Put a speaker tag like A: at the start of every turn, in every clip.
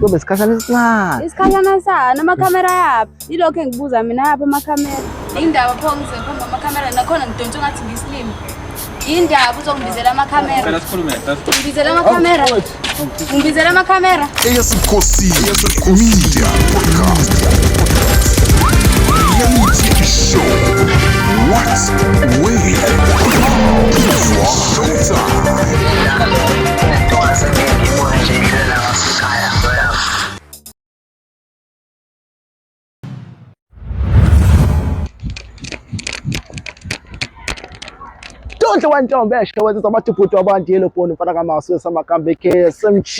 A: Kube isikhashana esincane. Isikhashana sani
B: amakhamera yaphi? Yilokho engibuza mina yaphi amakhamera? Indaba pho ngizophuma amakhamera nakhona ngidonsa ngathi ngisilimi. Indaba uzongibizela amakhamera. Ngicela sikhulume.
C: Ngibizela amakhamera. Ngibizela amakhamera. Eyasikhosi Media Podcast. Yamithi Show. What's where? Showtime.
A: Tonhle wantombi esho wenza abathi ubhuti wabantu yellow bone mfana kamasu wesamakamba KSMG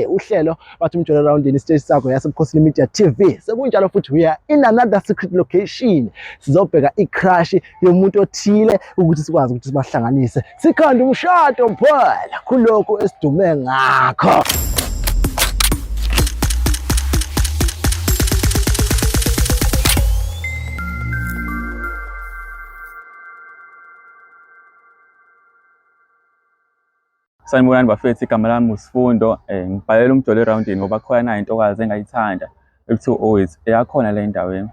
A: uhlelo bathi umjolo round in stage sakho yasebukhosini media TV sekunjalo futhi we are in another secret location sizobheka icrush yomuntu othile ukuthi sikwazi ukuthi sibahlanganise Sikhanda umshado mphela kulokhu esidume ngakho.
D: Sanibonani bafethu, igama lami uSifundo. Eh, ngibhalela umjolo erawundini ngoba khona nayo intokazi engayithanda. ekuthiwa owethu eyakhona la endaweni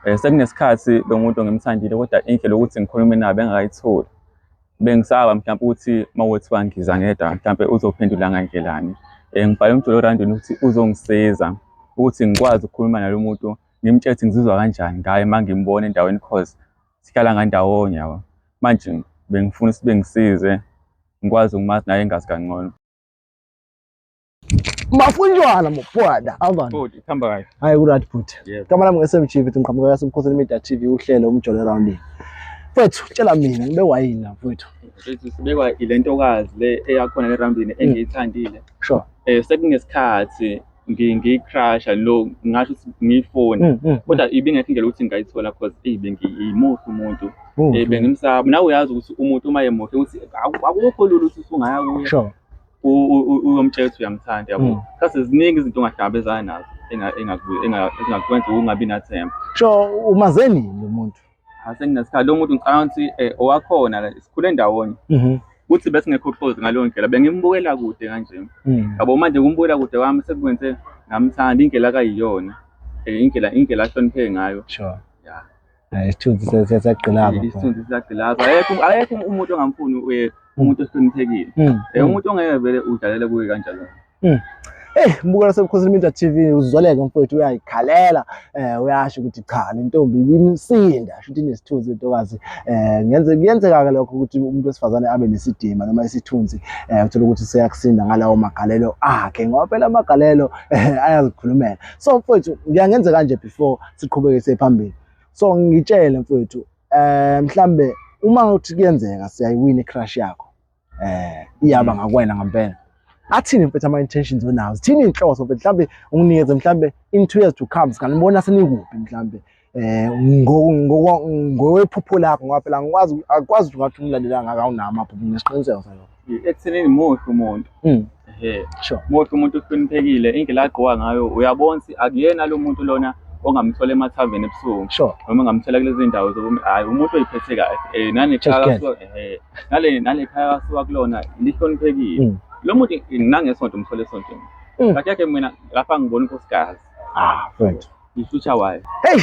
D: um sekunesikhathi lo muntu ngimthandile kodwa indlela yokuthi ngikhulume nayo bengakayitholi bengisaba mhlawumpe ukuthi uma kuthiwa ngiza ngedwa mhlawumpe uzophendula ngandlelani um ngibhale umjolo orandini ukuthi uzongisiza ukuthi ngikwazi ukukhuluma nalo muntu ngimtshele ukuthi ngizizwa kanjani ngaye uma ngimbona endaweni cause sihlala ngandawonye yabo manje bengifuna ukuthi bengisize ngikwazi ukumazi naye engazi kangcono
A: mafunjwana mupwada avani hamba kayo hayi
D: kurat bhuti yeah.
A: kama lami nge-smg
D: vithi
A: ngiqhamuka yasemkhosini media tv uhlelo umjolo erawundini mfethu tshela mina ngibe wayini la mfethu sibekwa ile
D: ntokazi le eyakhona le rambini hmm. engiyithandile sure eh
A: sekungesikhathi
D: ngiyicrusha lo ngasho ukuthi ngiyifoni hmm, hmm, kodwa ibingekho indlela ukuthi ngingayithola cause eyi bengiyimuhle umuntu um bengimsaba nawe uyazi ukuthi umuntu uma yemuhle ukuthi akukho lula ukuthi usungaya kuye
A: uyomtshela
D: ukuthi uyamthanda yabo mm. sase ziningi izinto ongahlangabezana nazo engakwenza ukungabi nathemba so umaze
A: nini umuntu asenginesikhathi lo
D: muntu ngicabanga ukuthi eh, owakhona sikhule ndawonye mm-hmm. kuthi bese ngekho close ngaleyo ndlela bengimbukela kude kanje mm. yabo manje kumbukela kude kwami sekwenze ngamthanda indlela akayiyona eh, indlela indlela ahlonipheke ngayo sure
A: Hayi
D: isithunzi sesagqilaza.
A: Isithunzi sesagqilaza.
D: Ayekho ayekho umuntu ongamfuni uye umuntu osihloniphekile. Hmm, eh hmm. umuntu ongeke vele udlalele kuye kanjalo. Hmm. Eh
A: mbukela sebukhosini iminta TV uzoleke mfowethu uyayikhalela eh uyasho ukuthi cha le ntombi ibimsinda shuthi inesithunzi intokazi eh ngenze kuyenzeka ke lokho ukuthi umuntu wesifazane abe nesidima noma isithunzi eh uthola ukuthi seyakusinda ngalawo magalelo akhe ngoba phela amagalelo eh, ayazikhulumela so mfowethu ngiyangenze kanje before siqhubeke siye phambili so ngitshele mfowethu eh mhlambe uma uthi kuyenzeka siyayiwina icrush yakho eh iyaba mm. ngakwena ngempela athini mfethu ama-intentions onawo zithini iy'nhloso mfethu mhlawumbe unginikeze mhlawumbe in two years to come singanibona senikuphi mhlawumbe eh ngowephupho lakho ngoba phela ngikwazi akwazi ukuthi ungathi umlandela ngaka unama phupho nesiqiniseko salokho ekuthenini muhle
D: umuntu
A: mm. ehe sure muhle umuntu
D: uhloniphekile indlela agqoka ngayo uyabona ukuthi akuyena lo muntu lona ongamthola emathaveni ebusuku sure noma ngamthola
A: kulezi ndawo
D: zokuthi hayi umuntu oyiphethe kahle eh nane khaya eh nale nale khaya kasuka kulona lihloniphekile mm. lo muntu nangesonto umthole esontweni mm. kathi yakhe mina lapha ngibona unkosikazi ah mfethu
A: ishutha wayo
D: hey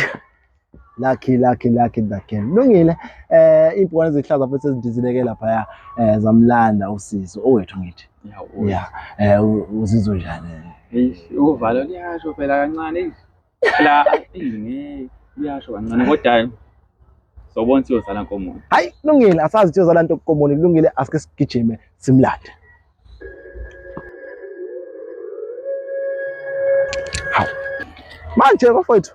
A: Lucky lucky lucky the girl. Lungile eh impukane ezihlaza futhi ezidizileke lapha ya eh zamlanda usizo owethu ngithi. Yawo. Yeah. Eh u- uzizwe njani? Eish, uvalo liyasho
D: phela kancane eish. phela ingeke liyasho kancane kodwa sobona siyozala nkomo Hayi lungile asazi
A: ukuthi uzala into komoni kulungile asike sigijime simlande. Hawu. Manje bafowethu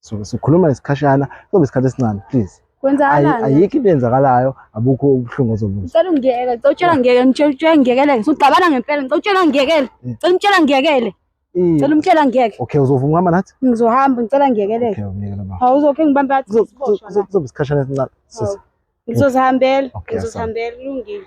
B: so
A: sikhuluma isikhashana sobe isikhathi esincane please kwenzakalani ayikho
B: into enzakalayo
A: abukho ubuhlungu ozobuzwa ngicela
B: ungiyekele ngicela utshela ngiyekele ngicela ngiyekele ngisuxabana ngempela ngicela utshela ngiyekele ngicela umtshela ngiyekele Ngicela umtshela ngeke. Okay uzovuma ukuhamba nathi?
A: Ngizohamba ngicela
B: ngiyekeleke. Okay ngiyekela baba. Hawu
A: uzokhe ngibambe athi
B: siboshwa. Kuzoba isikhashana
A: esincane sisi. Ngizozihambela. Ngizozihambela kulungile.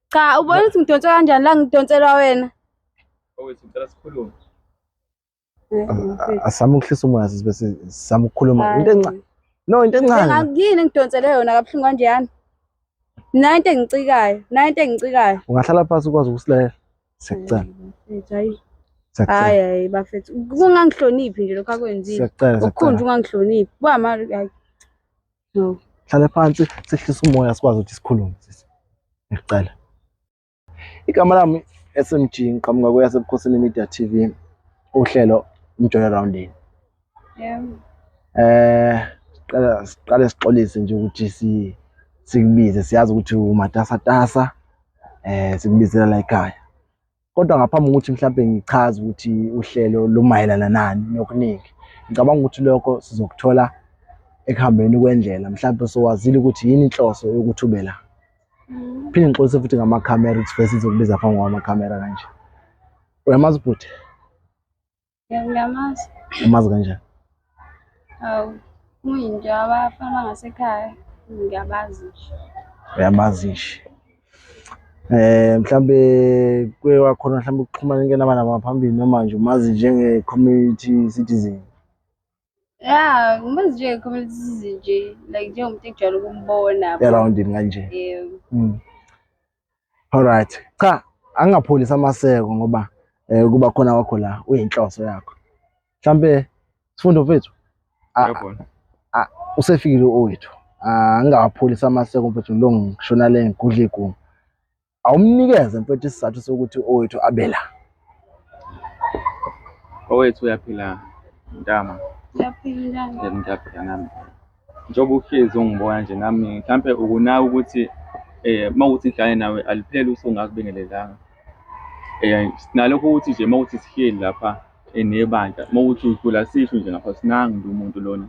A: Cha ubona
B: ukuthi ngidonse kanjani la ngidonselwa wena. Owethu ngicela
D: sikhulume.
A: Asami ukuhlisa umoya sisi bese sami ukukhuluma into encane. No into encane. Ngakuyini engidonsele yona
B: kabuhlungu kanjani? Nayo into engicikayo, nayo into engicikayo. Ungahlala phansi ukwazi
A: ukusilela. Sekucela.
B: Hayi. Hayi
A: hayi bafethu.
B: Kungangihloniphi nje lokho akwenzile. Sekucela. Ukukhunja
A: ungangihloniphi.
B: Kuba mali hayi. hlale phansi
A: sehlisa umoya sikwazi ukuthi sikhulume sisi ngicela igama lami SMG ngiqhamuka kweyasebukhosini media TV uhlelo umjola roundini yebo eh qala siqale sixolise nje ukuthi si sikubize siyazi ukuthi umatasatasa eh sikubizela la ekhaya kodwa ngaphambi kokuthi mhlawumbe ngichaze ukuthi uhlelo lumayelana nani nokuningi ngicabanga ukuthi lokho sizokuthola ekuhambeni kwendlela mhlawumbe sowazile ukuthi yini inhloso yokuthi ube la mm. phinde ngixolise futhi ngamakhamera ukuthi bese sizokubiza phambi kwamakhamera kanje uyamazi bhuti
B: Ngiyamazi. Umazi kanjani?
A: Awu,
B: kuyinto yabafana ngasekhaya, ngiyabazi nje. Uyabazi
A: nje. Eh mhlambe kuye wakhona mhlambe ukuxhumana ke nabana baphambili noma nje umazi njenge community citizen. ya
B: ngimazi nje community size nje like njengomuntu engijwayele ukumbona eroundini kanje
A: yebo Mm. Alright. Cha, angingapholisi amaseko ngoba eh kuba khona wakho la uyinhloso yakho. Mhlambe sifundo mfethu Ah. Yabona. usefikile owethu. Ah, Angingawapholisi amaseko mfethu lo ngishona le ngigudla iguma. awumnikeze mfethu isizathu sokuthi owethu abela
D: owethu uyaphila ntama uyaphila
B: ngiyaphila nami
D: njengoba uhlezi ungibona nje nami mhlampe ukunaka ukuthi eh mawuthi ngihlale nawe alipheli usungakubingelelanga eh sinalokho ukuthi nje mawuthi sihleli lapha enebandla mawuthi udlula sisho nje ngapha sinangi umuntu lona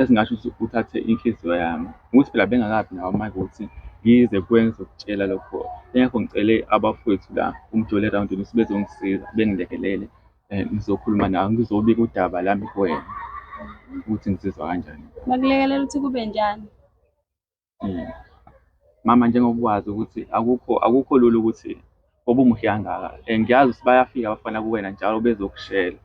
D: esingasho ukuthi uthathe inhliziyo yami ukuthi phela bengakabi nawo amandla okuthi ngize kwenze ukutshela lokho yingakho ngicele abafowethu la umjoli erawundini ukuthi bezongisiza bengilekelele um ngizokhuluma nawo ngizobika udaba lami kuwena ukuthi ngizizwa kanjani bakulekelela ukuthi kube
B: njani
D: Mama njengoba wazi ukuthi akukho akukho lula ukuthi ngoba umuhle kangaka and ngiyazi ukuthi bayafika abafana kuwena njalo bezokushela,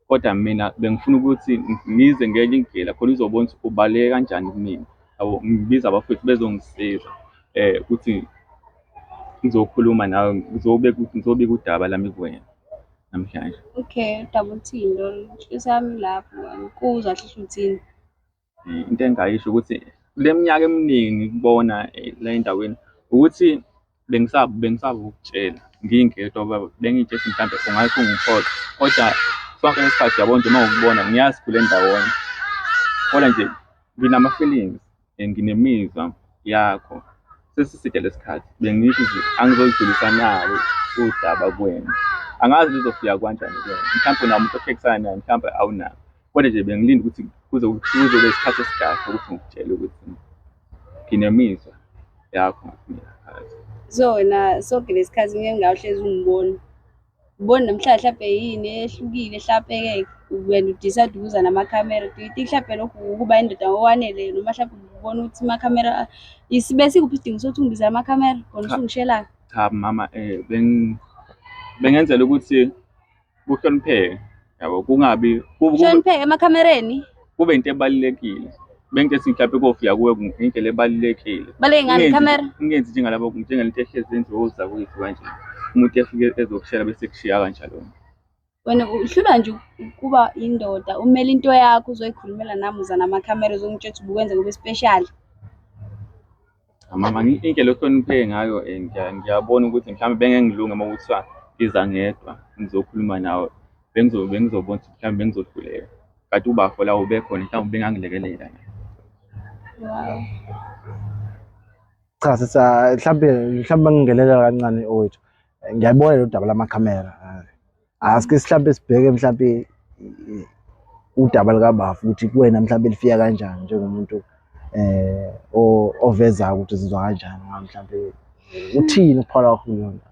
D: kodwa mina bengifuna ukuthi ngize ngenye indlela khona uzobona ukuthi ubaluleke kanjani kumina yabo. Ngibiza abafwethu bezongisiza ukuthi ngizokhuluma nawe ngizobeka ngizobika udaba lami kuwena namhlanje. Okay, udaba
B: oluthini lolu? Inhliziyo yami ilapho ngani, kuzwa kusho ukuthini? into
D: engayisho ukuthi kule minyaka eminingi kubona eh, la endaweni ukuthi bengisaba bengisaba ukutshela ngingedwa baba bengitshela mhlambe ungathi ungiphola kodwa sonke isikhathi yabo nje uma ukubona ngiyazi kule ndawonye kodwa nje nginama-feelings and nginemizwa yakho sesiside lesikhathi bengisho ukuthi angizolidlulisa nawe udaba kwena angazi lizofika kwanjani kwena mhlawumbe unamuntu ohlekisana naye mhlawumbe awunawo Kodwa nje bengilinda ukuthi kuze kuzobe isikhathi esikahle ukuthi ngikutshele ukuthi nginemizwa yakho ngakumina phakathi. So wena
B: soke lesikhathi ngeke ngawuhlezi ungibona. Ubona namhlanje hlampe yini ehlukile hlapeke wena udecide ukuza namakhamera. Do you think hlampe lokhu ukuba indoda ngokwanele noma hlampe ubona ukuthi amakhamera isibe sikuphi isidingo sokuthi ungibizele amakhamera khona usungishelayo? Cha mama
D: eh beng bengenzela ukuthi kuhlonipheke yabo kungabi kuhlonipheke
B: emakhamereni kube into
D: ebalulekile bengike singihlaphe kofika kuwe ngendlela ebalulekile baleke ngani ikhamera
B: ungenzi njengalabo
D: njengalento ehlezi enziwe uzakwethu kanje umuntu efike ezokushela bese kushiya kanjalo wena
B: uhlula nje ukuba indoda umele into yakho uzoyikhulumela nami uza namakhamera uzongitshela ukuthi ubukwenze kube special
D: Mama, ngi- indlela ohlonipheke ngayo eh, ngiya- ngiyabona ukuthi mhlawumbe bengengilunge uma kuthiwa ngiza ngedwa ngizokhuluma nawe bengizo- bengizobona ukuthi mhlawumbe bengizohluleka kanti ubafo la ubekhona mhlawumbe bengangilekelela Wow.
A: Cha sisa mhlambe mhlambe ngingelelela kancane owethu. Ngiyabona lo daba lamakhamera. asike mhlawumbe sibheke mhlawumbe udaba likabafu ukuthi kuwena mhlawumbe lifika kanjani njengomuntu eh ovezayo ukuthi sizwa kanjani mhlawumbe uthini ukuphala kwakho kuyona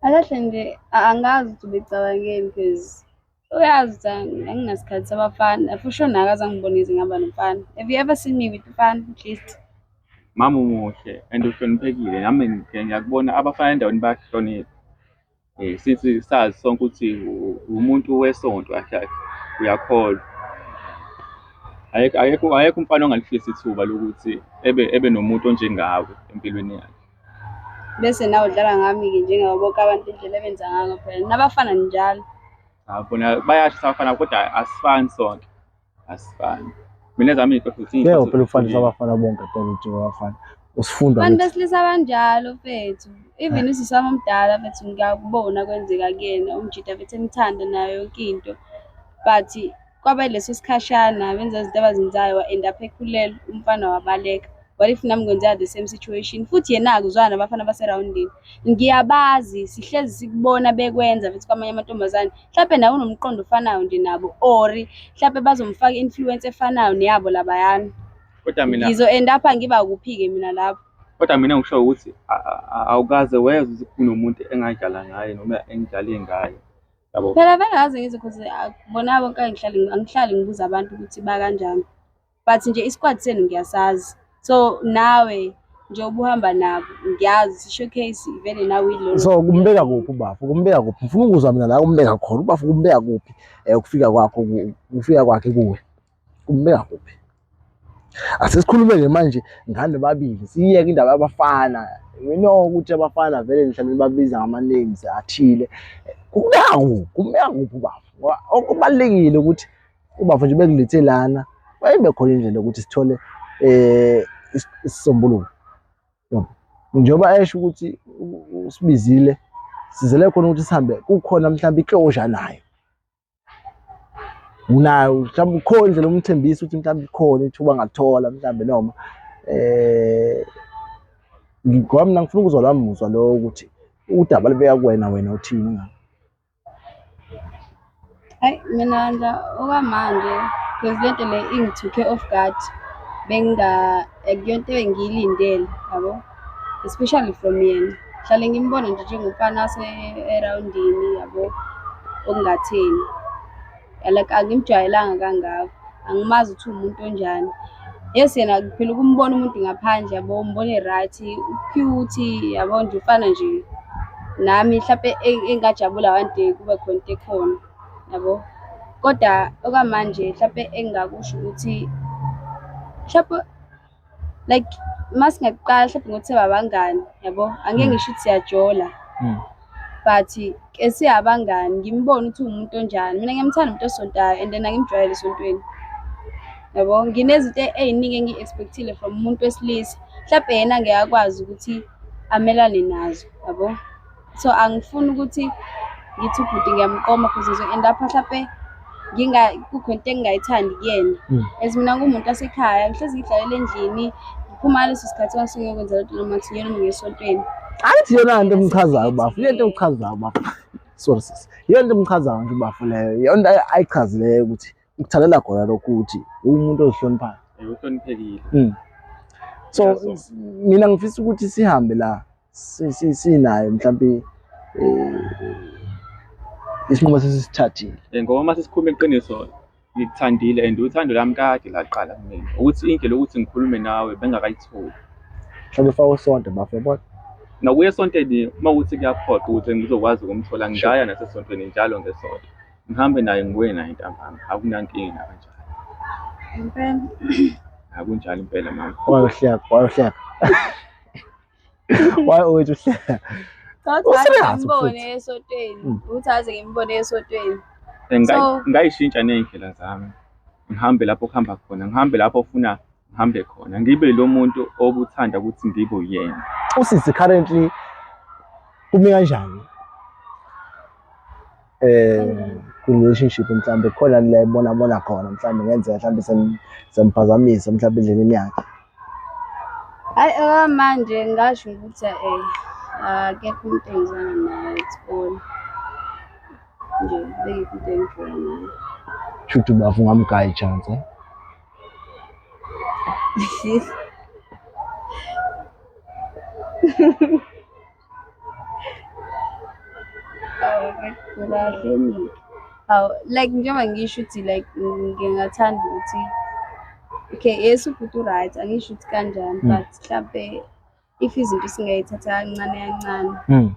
B: akahle nje angazi ukuthi ubecabangeni because Uyazi Thando, anginasikhathi sabafana. For sure nawe azangibonisi ngihamba nomfana. Have you ever seen me with mfana at least? mama
D: umuhle and uhloniphekile nami ngike ngiyakubona abafana endaweni bayakuhlonipha um since sazi sonke ukuthi u- umuntu wesonto kahle kahle uyakholwa Ayekho- ayekho ayekho umfana ongalifisa ithuba lokuthi ebe ebe nomuntu onjengawe empilweni yakhe Bese
B: nawe udlala ngami-ke njengawo bonke abantu indlela ebenza ngayo phela nabafana njalo. Cha bona
D: bayasho sabafana kodwa asifani sonke. Asifani. Mina ezami iy'nhluthu Ngeke ziyinhluthu phela ufanise zihlukile. abafana
A: bonke phela uthi abafana. Usifunda Abantu ukuthi besilisa
B: banjalo fethu. Even usisi wami omdala fethu ngiyakubona kwenzeka kuyena umjita fethu emthanda nayo yonke into but Kwaba leso sikhashana benza izinto abazenzayo wa-end up ekhulelwe umfana wabaleka. What if nami kwenzeka the same situation? Futhi yena-ke uzwana nabafana baserawundini. Ngiyabazi, sihlezi sikubona bekwenza futhi kwamanye amantombazane. Mhlampe nawe unomqondo ofanayo nje nabo or mhlampe bazomfaka i-influence efanayo neyabo labayana. Kodwa mina
D: Ngizo-end up ngiba
B: kuphi-ke mina lapho. kodwa mina ngisho
D: ukuthi a- a- a- awukaze wezwe ukuthi kunomuntu engadlala ngaye noma engidlale ngaye. yabo phela vele ngaze ngizwe
B: cause bona bonke angihlali angihlali ngibuza abantu ukuthi bakanjani but nje isikwadi senu ngiyasazi so nawe nje ubuhamba nabo ngiyazi showcase vele nawe ilona so kumbeka kuphi
A: ubafo kumbeka kuphi ngifuna ukuzwa mina la kumbeka khona ubafo kumbeka kuphi um ukufika kwakho ukufika kwakhe kuwe Umbeka kuphi? Asesikhulumele manje ngane babili, siyeke indaba yabafana. We know ukuthi abafana vele nihlale nibabiza ngama-names athile. Kumbeka kuphi? Kumbeka kuphi ubaba? Ngoba okubalulekile ukuthi ubaba nje bekulethe lana, wayeyibe khona indlela yokuthi sithole um isisombululo. Njengoba esho ukuthi usibizile sizele khona ukuthi sihambe kukhona mhlawumbe i-closure nayo. unayo mhlawumbe ukhona indlela umthembisa ukuthi mhlawumbe ikhona ithuba ngalithola mhlawumbe noma eh ngoba mina ngifuna ukuzwa lami muzwa lo ukuthi udaba libeka kuwena wena uthini ngalo
B: hayi mina nje okwamanje because lento le ingithuke off guard benginga akuyonto engiyilindele yabo especially from yena hlale ngimbona nje njengomfana ase-erowundini yabo okungatheni like angimjwayelanga kangako angimazi ukuthi uwumuntu onjani yes yena phela ukumbona umuntu ngaphandle yabo umbone right ucute yabo nje ufana nje nami mhlawumpe e-, engajabula one day kube khona into ekhona yabo kodwa okwamanje mhlawumpe engingakusho ukuthi mhlawumpe like uma singaqala mhlawumbe ngokuthi babangani yabo angeke mm. ngisho ukuthi siyajola mm. but ke siyabangani ngimbone ukuthi uwumuntu onjani mina ngiyamthanda umuntu osontayo and then angimjwayele esontweni yabo nginezinto ey'ningi engiyi-expectile from umuntu wesilisa mhlawumbe yena ngeke akwazi ukuthi amelane nazo yabo so angifuni ukuthi ngithi ubhuti ngiyamqoma because ngizo-end up mhlape kukho into engingayithandi kuyena hmm. as mina ngumuntu wasekhaya ngihlezi ngidlalela endlini ngiphuma ngaleso sikhathi kwangisuke ngiyokwenza lento noma kuthiwa yena mina esontweni angithi yona
A: nto emchazayo bafo yento emchazayo bafo sorry sis yona nto emchazayo nje ubafo leyo yonto ayichazileyo ukuthi ukuthandela khona lokhu ukuthi uwumuntu ozihloniphayo uhloniphekile
D: hmm.
A: so mina ngifisa ukuthi sihambe la sinayo mhlawumbe
D: eh, isinqumo sesisithathile eh, ngoba uma
A: sesikhuluma
D: iqiniso ngikuthandile and uthando lami kade laqala kumina ukuthi indlela yokuthi ngikhulume nawe bengakayitholi mhlawumbe fa
A: usonto bafe bona nokuya esontweni
D: uma ukuthi kuyaphoqa ukuthi ngizokwazi ukumthola ngingaya nasesontweni njalo ngesonto ngihambe naye ngibuye naye ntambama akunankinga kanjalo impela akunjalo impela mama wayohleka wayohleka
A: why always uhleka ngibone esotweni
B: hmm. ukuthi aze ngimbone esotweni
D: ngayishintsha ney'ndlela zami ngihambe lapho kuhamba khona ngihambe lapho ofuna ngihambe khona ngibe lo muntu obuthanda ukuthi ngibe uyena usisi currently
A: kumi kanjani eh relationship mhlambe khona la ebona bona khona mhlambe ngenzeka mhlambe semphazamisa mhlambe endleleni yakhe
B: hayi okwamanje eh, ngasho ukuthi eh akekho umuntu engizana naye esikole nje bengekho into engifuna naye shuthi bafu
A: ngamgaya ichance eh?
B: Kahle mina. Hawu like njengoba ngisho ukuthi like ngingathanda ukuthi okay yes ubhuti u-right angisho ukuthi kanjani Mm. but mhlampe if izinto singayithatha kancane kancane Mm.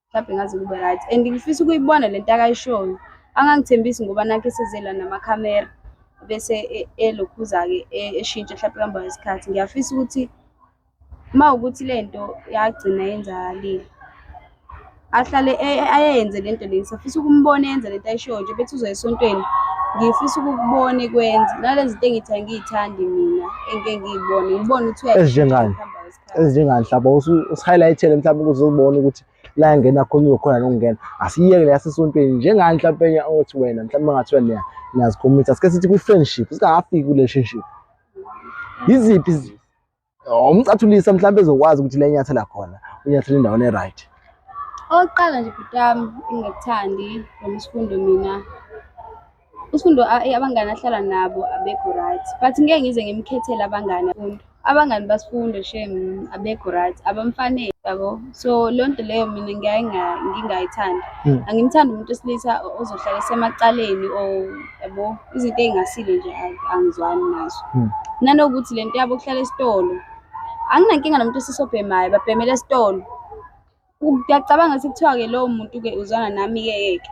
B: mhlampe ngaze kube right and ngifisa ukuyibona le nto akayishoyo angangithembisi ngoba nakhe sezela namakhamera bese e- elokhuza-ke e- eshintsha mhlampe kuhamba kwesikhathi ngiyafisa ukuthi Uma ukuthi le nto yagcina yenzakalile ahlale ayenze le nto leni safisa ukumbona yenza le nto ayishoyo nje bethi uzoya esontweni ngifisa ukukubona ikwenza nale zinto engithi angiyithandi mina engike ngiyibone ngibone ukuthi ezinjengani
A: ezinjengani mhlawumbe usihighlight-ele mhlawumbe ukuze uzibone ukuthi la yangena khona uzokhona nokungena asiyeke le yasesontweni njengani mhlawumbe enye othi wena mhlawumbe ngathiwa niya niyazikhomisa sike sithi kwi-friendship singakafiki kwi-relationship yiziphi umcathulisa mhlawumbe ezokwazi ukuthi lenyathela khona unyathela endaweni e-right oqala
B: nje bhutami engakuthandi noma isifundo mina isifundo eh, abangani ahlala nabo abekho right but ngeke ngize ngimkhethele abangani afundo abangani basifundo shem abekho right abamfanele yabo so loo nto leyo mina ngiyaye ngingayithandi hmm. angimthandi umuntu osilisa ozohlala esemacaleni or yabo izinto ey'ngasile nje angizwani nazo hmm. nanokuthi le nto yabo kuhlala esitolo anginankinga nomuntu esisobhemayo babhemela esitolo ngiyacabanga ukuthi kuthiwa-ke lowo muntu-ke uzwana nami-ke yeke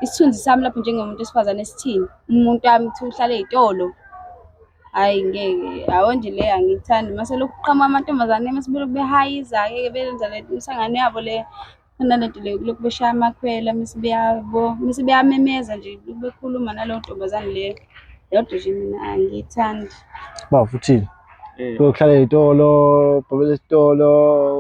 B: isithunzi sami lapho njengomuntu wesifazane esithini umuntu wami kuthiwa uhlala ey'tolo Hhayi ngeke, yabo nje le angiyithandi mase lokhu kuqhamuka amantombazane mase belokhu behayiza-ke ke benza le misangano yabo le. Kunalento le kulokhu beshaya amakhwela mese beyabo mese beyamemeza nje bekhuluma naleyo ntombazane leyo yodwa nje mina angiyithandi Ba uthini?
A: Eh. Uyohlala ezitolo, ubhabela esitolo,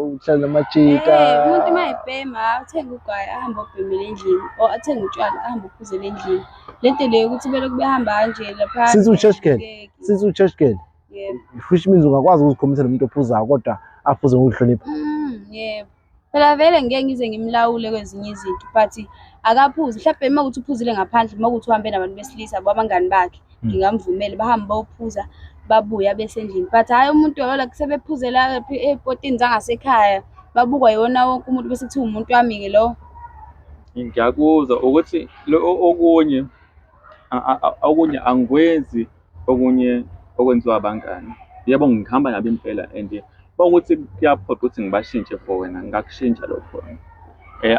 A: uhlala namajita. Eh, umuntu uma
B: ebhema athenge ugwayi ahambe obhemele endlini or athenge utshwala ahambe uphuzele endlini le nto leyo ukuthi belokhu behamba kanje lapha Since u-church girl,
A: since u-church girl, yebo which
B: means ungakwazi
A: ukuzikhombisa nomuntu ophuzayo kodwa aphuze ngokuhlonipha. Mm, yebo
B: Phela vele ngeke ngize ngimlawule kwezinye izinto but akaphuze mhlawumbe uma kuthi uphuzile ngaphandle uma kuthi uhambe nabantu besilisa abangani bakhe hmm. ngingamvumeli bahambe bawuphuza babuye abesendlini but hhayi umuntu yola sebephuzela ey'potini zangasekhaya babukwa yiwona wonke umuntu bese kuthiwa umuntu wami-ke lowo
D: ngiyakuzwa ukuthi okunye okunye angikwenzi Okunye okwenziwa abangani, yebo ngihamba nabo impela and uma kuwukuthi kuyaphoqa ukuthi ngibashintshe for wena ngingakushintsha lokho.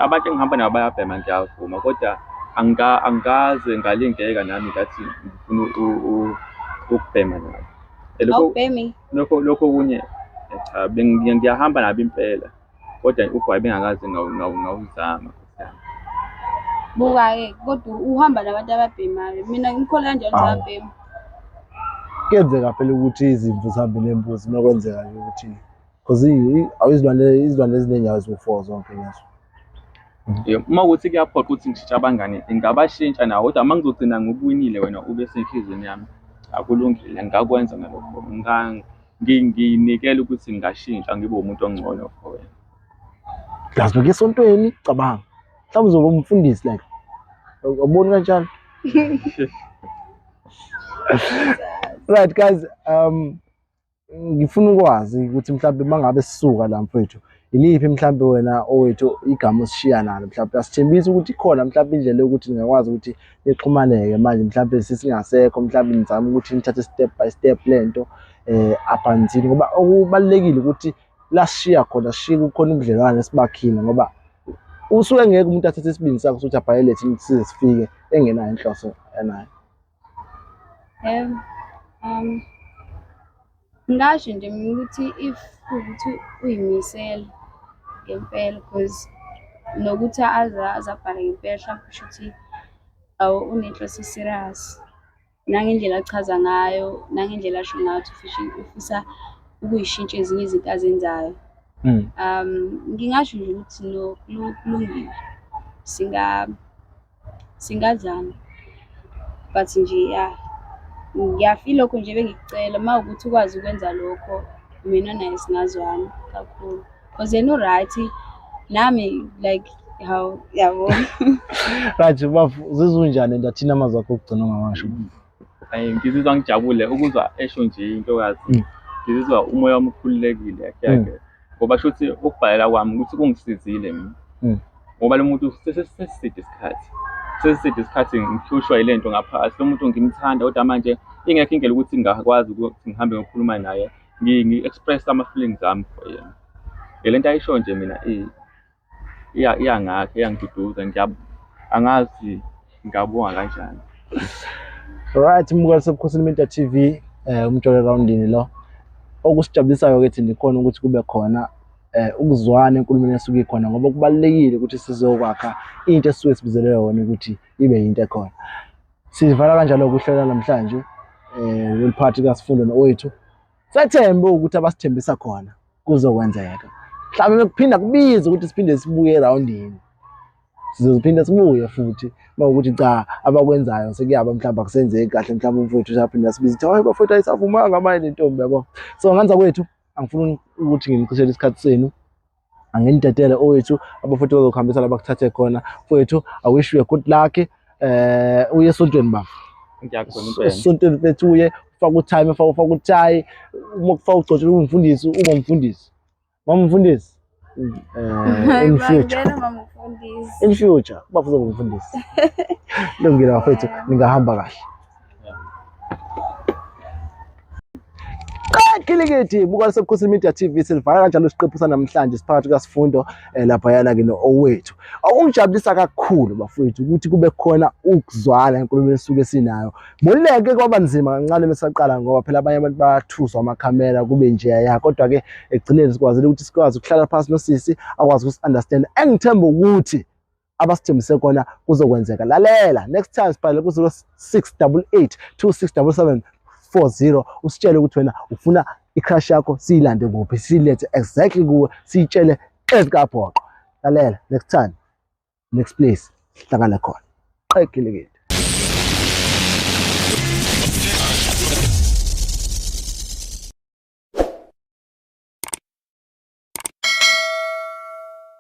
D: Abantu engihamba nabo bayabhema ngiyavuma koda angikaze ngalingeka nami ngathi ngifuna ukubhema nabo. Awubhemi?
B: Lokho okunye
D: cha ngiyahamba nabo impela. Kodwa ugwayi bengakaze ngawuzama.
B: Buka-ke kodwa uhamba nabantu ababhemayo. Mina ngikholwa kanjalo ukuthi ababhema.
A: Kuyenzeka phela ukuthi izimvu zihambe nembuzi uma kwenzeka nje ukuthi because izilwane izilwane eziningi aziwu-four zonke lezo.
D: Uma ukuthi kuyaphoqa ukuthi ngishintshe abangani ngingabashintsha nawo kodwa uma ngizogcina ngikuwinile wena ube senhliziyweni yami akulungile ngingakwenza ngalokho. nginikele ukuthi ngingashintsha ngibe umuntu ongcono for wena plus
A: beke esontweni cabanga mhlawumbe uzoba umfundisi like ubona kanjalo right guys um ngifuna ukwazi ukuthi mhlawumbe mangabe sisuka la mfethu Iliphi mhlawumbe wena owethu igama osishiya nalo mhlawumbe asithembisa ukuthi ikhona mhlawumbe indlela yokuthi ningakwazi ukuthi nixhumaneke manje mhlawumbe sesingasekho mhlawumbe nizame ukuthi nithathe step by step lento eh aphanzini ngoba okubalekile ukuthi lashiya khona shiya kukhona ubudlelwane esibakhile ngoba usuke ngeke umuntu athathe isibindi sakho ukuthi abhalele thina size sifike engenayo inhloso enayo Yebo. Um,
B: ngingasho nje mina ukuthi if kuwukuthi uy'misele ngempela cause nokuthi aze aze abhale ngempela hlampe kusho ukuthi awu unenhloso e-serious. Nangendlela achaza ngayo, nangendlela asho ngayo ukuthi ufisa ukuy'shintsha ezinye izinto azenzayo. Mm. Um, ngingasho nje ukuthi no, kulungile. Singa Singazama but nje ya ngiyafisa ilokho nje bengikucela uma ukuthi ukwazi ukwenza lokho mina naye singazwana kakhulu cause yena u-right nami like hawu yabo
A: Right bafo zizunjani and athina amazwi akho okugcina ongawasho. Ay ngizizwa
D: ngijabule ukuzwa esho nje intokazi. Mm. Ngizizwa umoya wami ukhululekile yakhe Mm. yakhe. Ngoba shuthi ukubhalela kwami ukuthi kungisizile mina. Mm. Ngoba lo muntu sese- sesiside isikhathi. Sesiside isikhathi ngihlushwa yile nto ngaphakathi. Lo muntu ngimthanda kodwa manje ingekho indlela ukuthi ngingakwazi ukuthi ngihambe ngiyokhuluma naye. Ngi- Ngi-express ama-feelings ami for yena. Ngele nto ayisho nje mina eh, iyangakha iyangiduduza angazi ngingabonga kanjani
A: right mukela sebukhosini Media TV eh umjolo roundini lo okusijabulisayo ke thina ikhona ukuthi kube khona eh ukuzwana enkulumeni esuke ikhona ngoba kubalekile ukuthi sizokwakha into esuke sibizele yona ukuthi ibe into ekhona sivala kanjalo ukuhlola namhlanje eh leli party kaSifundo nowethu sethembe ukuthi abasithembisa khona kuzokwenzeka mhlawumbe kuphinda kubize ukuthi siphinde sibuye erawundini sizophinde sibuye futhi mawukuthi cha abakwenzayo sekuyaba mhlawumbe akusenzeki kahle mhlawumbe umfowethu usaphinde asibize ukuthi hayi bafowethu ayisavumanga manje le ntombi yabo so nganza kwethu angifuni ukuthi ngimcishele isikhathi senu anginidedele owethu abafowethu bazokuhambisa la bakuthathe khona fowethu i wish you a good luck eh uye esontweni bafo
D: esontweni mfethu uye
A: ufaka utime ufaka ufaka uthayi uma kufaka ugcotshwe umfundisi uba umfundisi mama umfundisi eh in future in future bafuze umfundisi lungile bafethu ningahamba kahle Kilikiti buka lisebukhosini media TV silivala kanjalo isiqephu sanamhlanje siphakathi kasifundo eh, laphayana ke no-owethu okungijabulisa kakhulu bafowethu ukuthi kube khona ukuzwana enkulumeni esuke sinayo moleke kwaba nzima kancane mesaqala ngoba phela abanye abantu bathuswa amakhamera kube nje ya kodwa ke ekugcineni sikwazile ukuthi sikwazi ukuhlala phansi nosisi akwazi ukusi-understand engithemba ukuthi abasithembise kona kuzokwenzeka lalela next time sibhalele ku-0688 2677 40 usitshele ukuthi wena ufuna i-crush yakho siyilande kuphi siyilethe exactly kuwe siyitshele ezikabhoqo lalela next time next place sihlangane khona qekile kithi